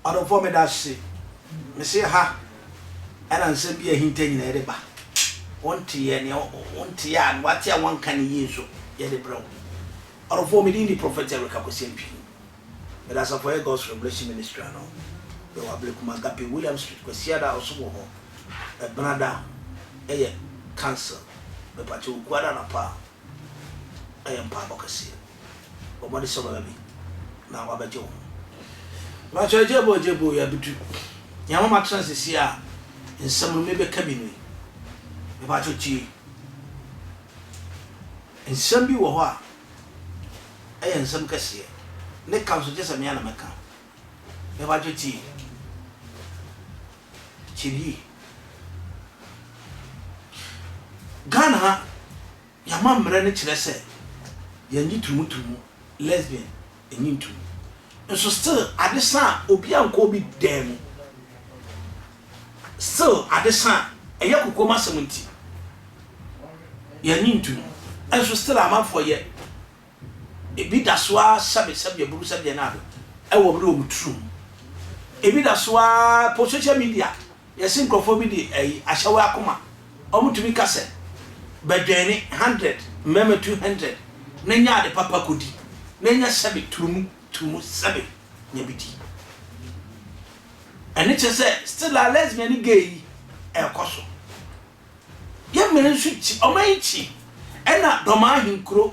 ɔdɔfoɔ meda ase mese ha ɛna nsɛm bi ahinta nyina yɛde ba wonteɛ ne wonteɛ a wate a wanka ne yie nso yɛde brɛ wo ɔdɔfoɔ medin de prɔfɛt ɛreka kɔsɛmpi Mede asafo a ɛyɛ God's Revelation Ministry ano yɛ wɔ Ablekuma Agape William Street Kwasiada a ɔsom wɔ hɔ Ɛbena da ɛyɛ cancel Mepakyɛ wo Kuada anapa a ɛyɛ mpaabɔ kɛseɛ Bɔ mmɔde sɛ wobɛba bi na wabɛgye wo ho Mepakyɛ Agye bɔ Agye bɔ Yɛabedu nea ama matena sesie a nsɛm no mebɛka bi ni Mepakyɛ tie Nsɛm bi wɔ hɔ a Ɛyɛ nsɛm kɛseɛ. Ne ka nso gye sɛ me ara na mɛka. Yɛbadwo tie. Tie yie. Ghana ha, yɛn amammerɛ no kyerɛ sɛ yɛnnye tumu tumu, lesbian, Enyi ntu. Nso still ade sa a obi ankɔ obi dan mu. Still ade sa a ɛyɛ kokoam asɛm nti yɛn ani ntu no. Nso still amanfoɔ yɛ ebi da so ara sɛbe sɛbeɛ buru sɛbeɛ na ado ɛwɔ bere wɔn turu mu. Ebi da so ara po social media. Yɛse nkurɔfoɔ bi de ayi ahyɛ wo akoma, wɔn tumi ka sɛ, Bɛdwɛne hundred, mmarima two hundred, na nya ade papa kɔdi, na nya sɛbe turu mu, turu mu sɛbe nya bi di. Ɛno kyerɛ sɛ still a lesbian ne gay yi ɛrekɔ so. Yɛn mmɛn nso kyi, wɔn ankyi, ɛna Dɔmaa Ahenkuro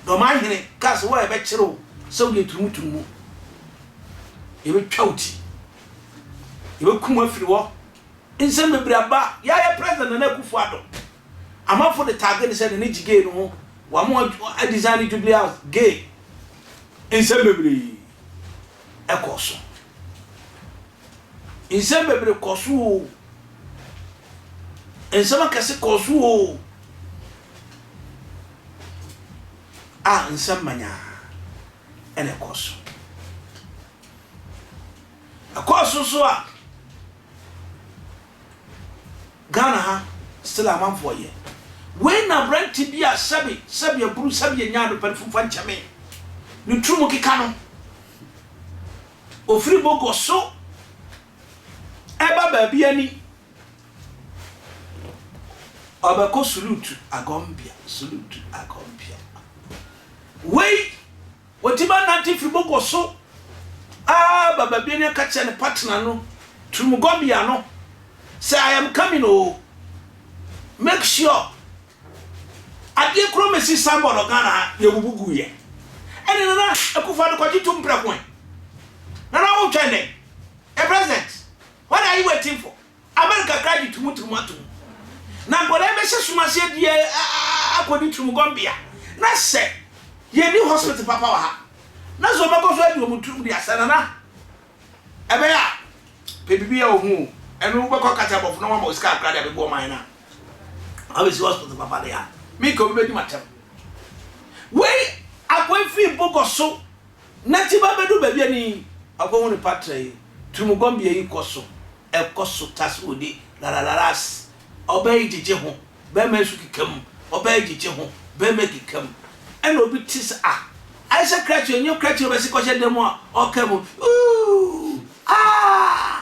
Dɔm ahene kaa sɛ, Wo a yɛbɛkyere wo sɛ woyɛ turumuturumu, yɛbɛtwa wo ti, yɛbɛkum wo afiri hɔ. Nsɛm bebree aba. Yɛayɛ President Nana Akufo-Addo. Amanfo de tagge no sɛ ne ne gye gay no ho. Wɔama wɔadesign ne Jubilee House gay. Nsɛm bebree kɔɔ so. Nsɛm bebree kɔɔ so oo. Nsɛm akɛse kɔɔ so oo. A nsɛm manyaa ɛna ɛkɔɔ so. Ɛkɔɔ so so a Ghana ha still amanfoɔ yɛ. Wei na aberante bi a sɛbe sɛbe aburu sɛbe yɛnyaa no pɛ no fomfa nkyɛ me. Ne tiri mu keka no. Ofiri bɔkɔ so ɛba baabi a ni ɔbɛkɔ sulutu agɔnbea sulutu agɔnbea wei wɔtumi anante firi bɔkɔ so aba baabi a ni ɛka kyerɛ ne partner no turumugɔnbea no sɛ I am coming o make sure Adeɛ koro me se Sambɔ no Ghana ha yɛ bubu gu yɛ ɛne Nana Akufo Addo kɔgye tum prɛko ɛ Nana wo twɛn dɛn the president what are you waiting for America kra gye tum tum atom na nkɔdaa yi bɛhyɛ som aseɛ di ɛ akɔdi tum gɔmbea na sɛ yɛ ni hospital papa wɔ ha na sɛ ɔbɛkɔ so adi ɔmo tum di asɛ Nana ɛbɛyɛ a pɛ bibi yɛ ɔho o ɛno wobɛkɔ kasa bɔfo na wama osika akra de abɛbu ɔman no a Abɛsi hospital papa deɛ a, me nka obi bɛdi m'atɛm. Wei akɔ firi bogɔ so na ti ba bɛdu baabi ani akɔ hu ne patra yi turumugɔmbea yi kɔ so ɛkɔ so tas wo di laralaras ɔbaa yi gyegye ho bɛrima yi so keka mu ɔbaa yi gyegye ho bɛrima yi keka mu ɛna obi ti sɛ ah ayɛ sɛ krakye ɛnyɛ krakye ɔbɛsi kɔhyɛ dan mu a ɔka mu uuu aah.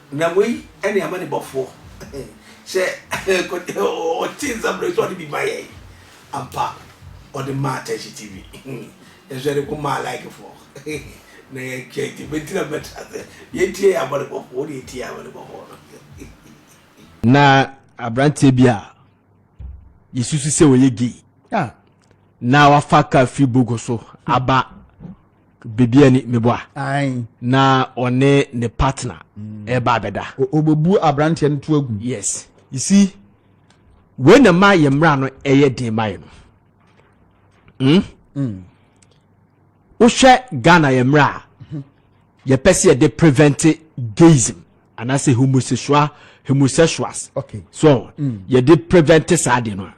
Na wei ne amanebɔfoɔ sɛ ɔtee nsɛm no sɛ ɔde bi ma yɛn ampa ɔde maa Tɛhye TV nanso yɛde ko maa like foɔ na yɛtwa nti mɛnti na mɛtra sɛ yɛntie yɛ amanebɔfoɔ wode yɛtie amanebɔfoɔ no na abranteɛ bi a yɛsusu sɛ ɔyɛ gay na wafa ka firi bogo so aba Baby ani meboa. Na ɔne ne partner ɛba mm. abɛda. Obebu abranteɛ no to agu. Yes. You see, wei na ma yɛ mmara no ɛyɛ den ma yɛ no. Hmm? Mm. Wohwɛ Ghana yɛ mmara a mhm. yɛpɛ sɛ yɛde prevent gayism anaasɛ homosexual homosexuals. Okay. So mm. yɛde prevent saa de no a.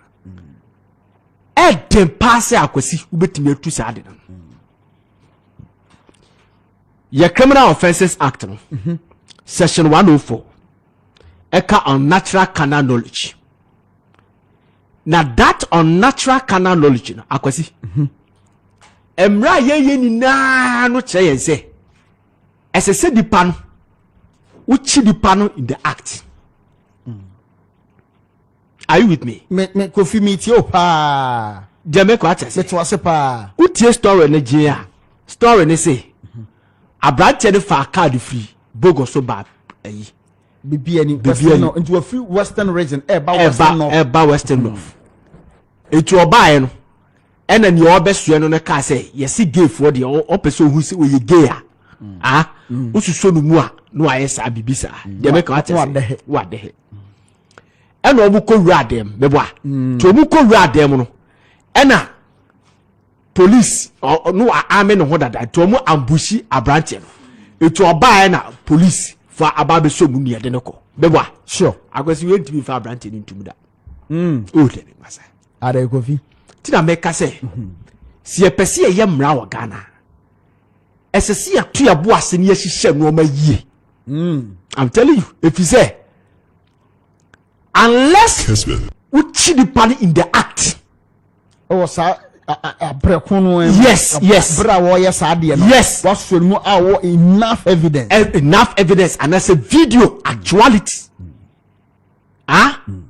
ɛden paa sɛ akwasi wobɛtumi atu saa ade no yɛ criminal offences act no mhm. section 104 ɛka unnatural carnal knowledge na that unnatural carnal knowledge no akwasi mhm. mmerɛ a yɛyɛ nyinaa no kyerɛ yɛn sɛ ɛsɛ sɛ nipa no wokyi nipa no in the act mm. are you with me. me me kofi mi tie o paa. deɛ mɛkɔ akyɛ se. mete wase paa. wotie story ne gye a story ne se aberanteɛ ne faa card firi bogo so ba ayi. bibi ani western north nti wafiri western region ɛba western north ɛba western hmm. north nti ɔbaeɛ no ɛna nea ɔbɛsoɛ no no kaa sɛ yɛse gayfoɔ deɛ ɔpɛ sɛ ɔhu sɛ ɔyɛ gay a hmm. a hmm. wosusuo no mu a na wayɛ saa biribi saa deɛ mɛka watɛ sɛ wadɛhe ɛna wɔn kɔ wura dan mu mɛboa mm. nti wɔn kɔ wura dan mu no ɛna polisi ɔno ame ne ho dada nti wɔn ambushi aberanteɛ no nti ɔbaa ɛna polisi fa aba abɛsɔ mu nea ɛde ne kɔ mɛboa sure akwasi wei ntumi fa aberanteɛ no ntumi da mm. o dɛ ne masa ada ekofi ti na mɛka sɛ mhm. si yɛpɛ si yɛyɛ mmara wɔ ghana ɛsɛ si yɛto yɛbo ase ne yɛhyehyɛ nneɛma yie Mm, I'm telling you, if you say, unless wokyiri nipa no in the act. ɛwɔ saa abirɛ ko no ɛmu. yes yes abirɛ a wɔyɛ saa deɛ no. yes wasɔ mu a wɔ enough evidence. Eh, enough evidence and anaasɛ video actuality ah mm.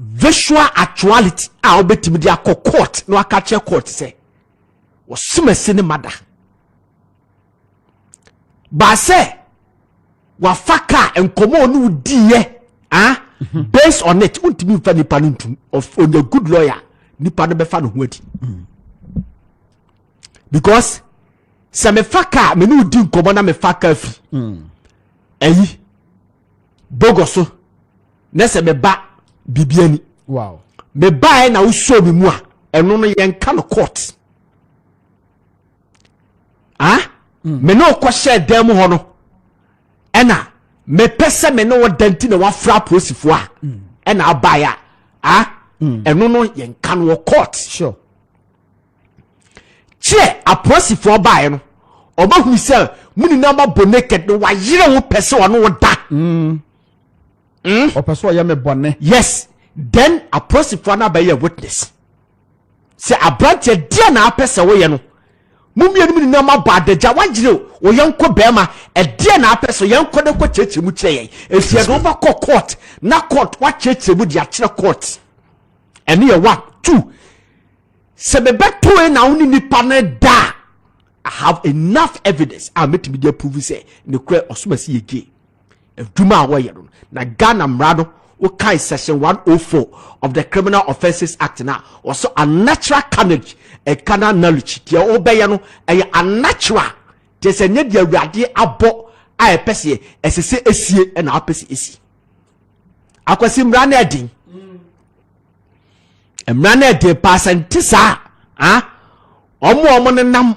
visual actuality a wɔbɛtumi de akɔ court na waka kyerɛ court sɛ wɔsomasi ne mada. baasɛ wafa kaa nkɔmɔ ɔne wo diiɛ ah based on it wontumi nfa nipa no ntum ɔnyɛ good lawyer nipa no bɛfa ne ho adi because sɛ mefa kaa mene wodi nkɔmɔ na mefa kaa fi ɛyi hmm. bogɔ so na sɛ meba biribi ani mebaɛ na wosoo me mu a ɛno no yɛnka no court a hmm. me ne ɔkɔhyɛɛ dan mu hɔ no ɛna mepɛ sɛ me ne ɔda nti na wafra apolisifoɔ a hmm. ɛna abaeɛ a a hmm. ɛno no yɛnka no wɔ court kyerɛ apolisifoɔ baeɛ no ɔbɛhunu sɛ mo nyinaa mabɔ naked no wayerɛ wo pɛ sɛ ɔne wo da ɔpɛ sɛ ɔyɛ me bɔne yes then apolisifoɔ no abɛyɛ witness Sɛ aberanteɛ, deɛn na apɛ sɛ woyɛ no? Mo mmienum nyinaa moabɔ adagya, woayere wo yɔnko barima, ɛdeɛn na apɛ sɛ yɛn kɔ na kɔ kyerɛkyerɛ mu kyerɛ yɛn? Ɛfiri yɛde wo bɛkɔ court na court woakyerɛkyerɛ mu de akyerɛ court. Ɛno yɛ one. Two, sɛ mebɛto yɛ na wo ne nipa no da a, I have enough evidence a mɛtumi de approve sɛ ne korɛ ɔsoma si yɛ gay. adwuma a wɔyɛ no na ghana mmara no wokae section 104 of the criminal offences act no a wɔsɛ unnatural carnage and carnal knowledge deɛ wobɛyɛ no ɛyɛ unnatural kyerɛ sɛ nyɛ deɛ awurade abɔ a ɛpɛ sɛ ɛsɛ sɛ esie ɛna apɛ sɛ esi akwasi mmara no ɛden mmara no ɛden paa sɛ nte saa a wɔn a wɔn nenam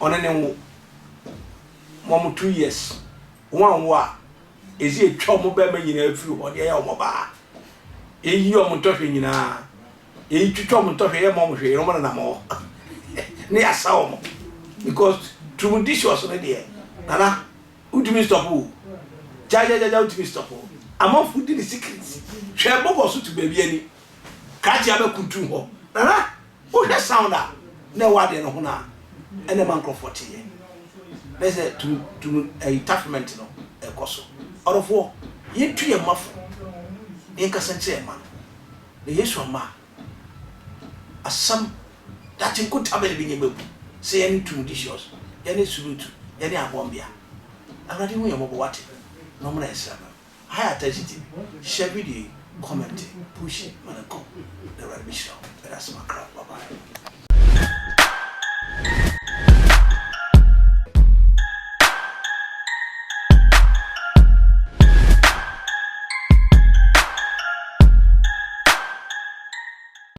ɔne ne nwo ma ɔmo two years wɔn anwo a edze etwa ɔmo bɛrima nyinaa firi hɔ de ayɛ ɔmo ɔbaa eyi ɔmo ntɔhwɛ nyinaa eyi twitwa ɔmo ntɔhwɛ yɛ ma ɔmo hwɛ yɛ ɔmo nenam hɔ ne yɛ asa ɔmo because tumudicious ne deɛ nana wotumi stop o gyagyagyaja wotumi stop o amanfo di ne secret hwɛ bɔbɔ so to baabi ani krakye abɛkuntu hɔ nana Wohwɛ sound a na ɛwɔ adeɛ no ho no a, ɛna ɛma nkorɔfoɔ teeɛ. Na ɛsɛ tum tum ɛyi tafement no ɛkɔ so. Ɔdɔfoɔ, yɛntu yɛn mma fo na yɛnkasa nkyerɛ yɛn mma no. Na Yesu amma a, asɛm daakye nkotabɛ no bɛnya mu abu sɛ yɛne tumudicious, yɛne sulutu, yɛne abɔnbea. Awurade hu yɛn mmɔbɔ, wate, na ɔmmra yɛn sraban mu. High attention ti hyɛ bi de comment push ma no nkɔ na awurade bɛ hyira wo ɛda ase makra bye bye.